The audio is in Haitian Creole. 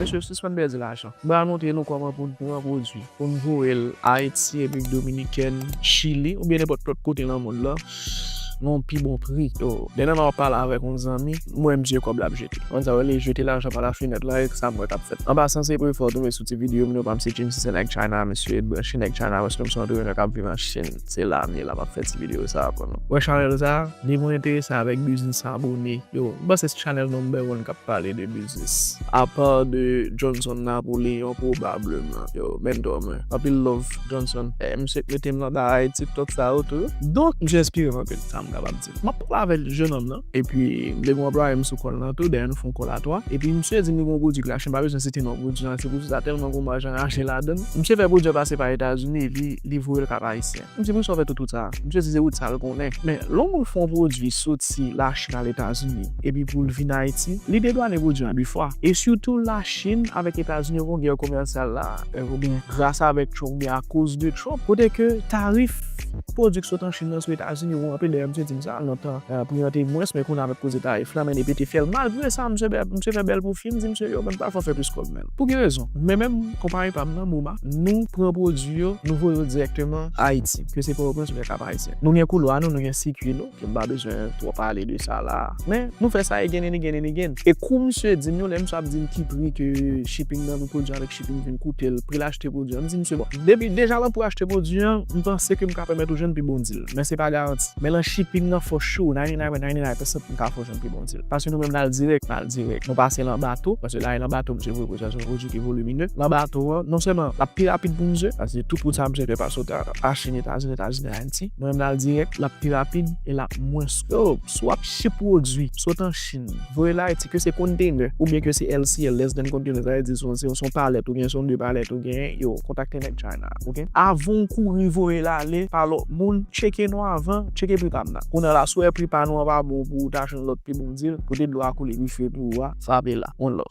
Mesye sispann pèdi lajan. Mwen pral montre nou kòman pou n pran pwodui pou n voye l Ayiti, Repiblik Dominikèn, Chili oubyen nenpòt lòt kote nan mond lan nan yon pi bon pri. Demen map pale avèk yon zanmi m wè misye kòb lap jete. Ou konn sa yo rele jete lajan pa la fenèt la e sa m wè kap fèt. An pasan se premye fwa w tonbe sou ti videyo m yo pa m se James se nèg China misye branche nèg China paske m se yon antreprenè kap viv an Chine. Se la m ye la map fè ti video sa pou nou. Wè chanèl sa, li mwen enterese avèk biznis abone yo. M panse se chanèl number one kap pale de biznis. Apa de Johnson Napoléon probableman. Yo mentor mwen. Anpil love Johnson. Misye k metem nan bagay tiktok sa yo tou. Donk misye enspirem anpil sa m kapab di. M ap pale avèk jenòm nan epi m te gen yon anplwaye m sou kò l nan tou, dèyè nou fè yon kòl a twa. Epi msye di m li gen yon pwodui k lache, m pa bezwen site non pwodui an, se pou di sa tèlman gen yon maj anraje ladan l. Msye fè pwodui an pase pa Etazini epi li voye l Kap Ayisyen. M di msye ou fè tout wout sa a? Msye di se wout sa l konnen. Men, lè yon moun fè yon pwodui soti Lachin al Etazini epi pou l vin Ayiti, li dedwane pwodui an de fwa. E sitou Lachin avèk Etazini yo gen yon gè komèsyal la a, oubyen gras avèk Trump oubyen akoz de Trump, kote ke tarif. Pwodui k sot an Chin nan sou Etazini wou anpil dayè misye di m sa nan tan pri an te mwens men kounye a avèk koze tarif la men depi te fè l malgre sa misye fè bèl pwofi m di misye yo menm pa fè w fè plis kòb menm pou ki rezon men menm konpayi pa m nan Moma nou pran pwodui yo nou voye yo dirèkteman Ayiti ke se pòtoprens ou byen Kap Ayisyen nou gen koulwa nou nou gen sikui nou. Nou pa bezwen twò pale de sa la. Men, nou fè sa again and again and again. E kou misye di m yo, lè misye ap di m ki pri ke shipping nan pou pwodui an avèk shipping vin koute l, pri l achte pwodui an, m di misye bon, depi deja lan pri achte pwodui an, m panse ke m ka pèmèt ou jwenn pi bon deal. Men se pa garanti. Men lan shipping nan for sure, 99.99% m ka fè w jwenn pi bon deal. Paske nou menm n al dirèk. N al dirèk. Nou pase lan bato. Paske la e lan bato misye voye pwodui a. Se yon pwodui ki volumineux. Lan bato an, non sèlman l ap pi rapid pou misye. Paske tout wout sa misye fè pase w ta achte nan Etazini, Etazini. Ayiti. Mwen renmen al dirèk, lap pi rapid e lap mwens kò. Yo, si w ap chip pwodwi sot an Chin, voye l Ayiti, ke se kontenè oubyen ke se LCL, less than container, sa vle di se yon, se yon palèt oubyen se yon 2 palèt ou genyen, yo, kontakte nèg China a, ok. Avan w kouri voye l ale pa lòt moun, tcheke nou avan, tcheke pri pa m nan. Kounye a la, si w wè pri pa nou an pa bon pou w ta jwenn lòt pi bon deal, kote dlo a koule pi fre pou ou a, frape la. One love.